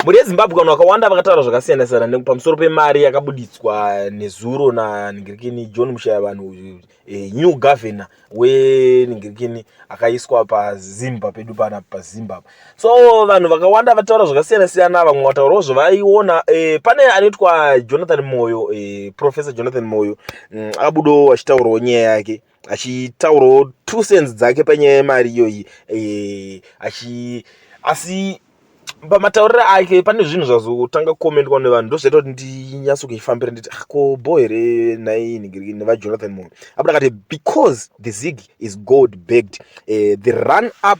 Mhuri yeZimbabwe vanhu vakawanda vakataura zvakasiyana siyana pamusoro pemari yakabuditswa nezuro naningirikini John Mushaya vanhu e, new governor weningirikini akaiswa paZimba pedu pana paZimba. So vanhu vakawanda vataura zvakasiyana siyana, vamwe vataurawo zvavaiona. E, pane anoitwa Jonathan Moyo e, Professor Jonathan Moyo mm, abudawo achitaurawo nyaya yake. achitaurawo two cents dzake panyaya yemari iyoyi eh, achi asi pamatauriro ake pane zvinhu zvazotanga kukomendwa nevanhu ndozvaita kuti ndinyatso kuifambira nditi ah, ko bo here nhai nigiriki nevajonathan moyo apo ndakati because the zig is gold bagged uh, the run up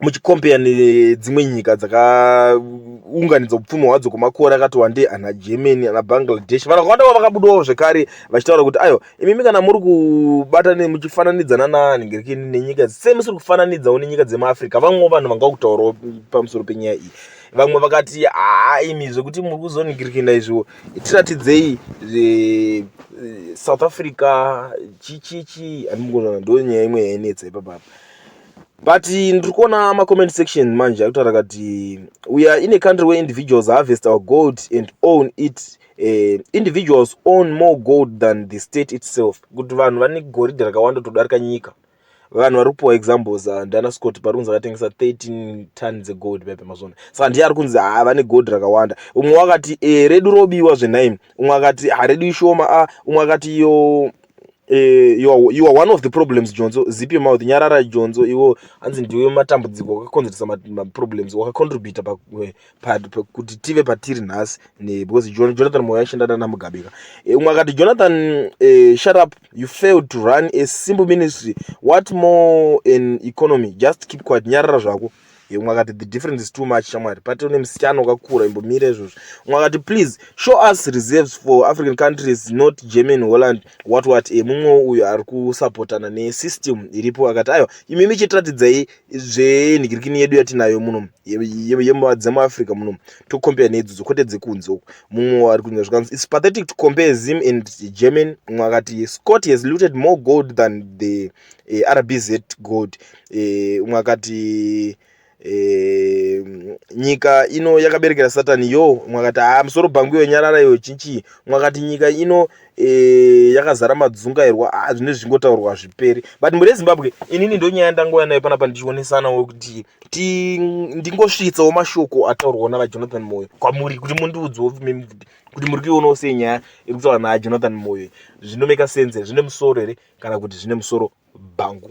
muchikombeya nedzimwe nyika dzakaunganidza upfumi hwadzo kwemakore akati wandei ana germany ana bangladesh vanhu vakawanda vavakabudawo zvekare vachitaura kuti ayo imimi kana muri kubata muchifananidzana nanhingiriki nenyika se musiri kufananidzawo nenyika dzemaafrica vamwewo vanhu vanga kutaurawo pamusoro penyaya iyi vamwe vakati haa imi zvekuti muri kuzonhingirikina izvo tiratidzei eh, south africa chichichi andimukonana ndo nyaya imwe yainetsa ipapapa but ndiri kuona macomment section manje akutaura kati we are in a country where individuals harvest our gold and own it uh, individuals own more gold than the state itself kuti vanhu vane goridhe rakawanda kutodarika nyika vanhu vari kupiwa examples uh, ndiana scott pari kunzi akatengesa 13 ton dzegold pepe mazvona saka ndiye ari kunzi haa vane gold rakawanda umwe wakati e, redu robiwa zvenhaimi umwe akati haredu ishoma a ah, umwe akati yo Eh, you are, you are one of the problems jonzo zip your mouth nyarara jonzo iwo hanzi ndiwe matambudziko wakakonzeresa maproblems wakacontributa eh, kuti tive patiri nhasi because jonathan moyo aishanda nana mugabika eh, umwe akati jonathan uh, shut up you failed to run a simple ministry what more an economy just keep quiet nyarara zvako yemwe akati the difference is too much shamwari pati une musityana wakakura imbomira izvozvo mwe akati please show us reserves for african countries not german holland what what e mumwewo uyo ari kusapotana nesystem iripo akati aiwa imi michitiratidzai zvenhikirikini yedu yatinayo muno dzemuafrica muno tocompare neidzodzo kwete dzekunze uku mumwewo ari kunya zvikanzi its pathetic to compare zim and german mwe akati scott has looted more gold than the eh, rbz gold eh, umwe akati eh, nyika ino yakaberekera satani yo umwe akati haa ah, musoro bhangu iyo nyarara iyo chinchii umwe akati nyika ino eh, yakazara madzungairwa a ah, zvine zvingotaurwa hazviperi but mhuri yezimbabwe inini ndonyaya ndangouya nayo panapa ndichionesanawo kuti ndingosvitsawo mashoko ataurwawo navajonathan moyo kwamuri kuti mundiudzewo mimvuti kuti muri kuionawo sei nyaya iri kutaura naye jonathan moyo zvinomeka sense here zvine musoro here kana kuti zvine musoro bhangu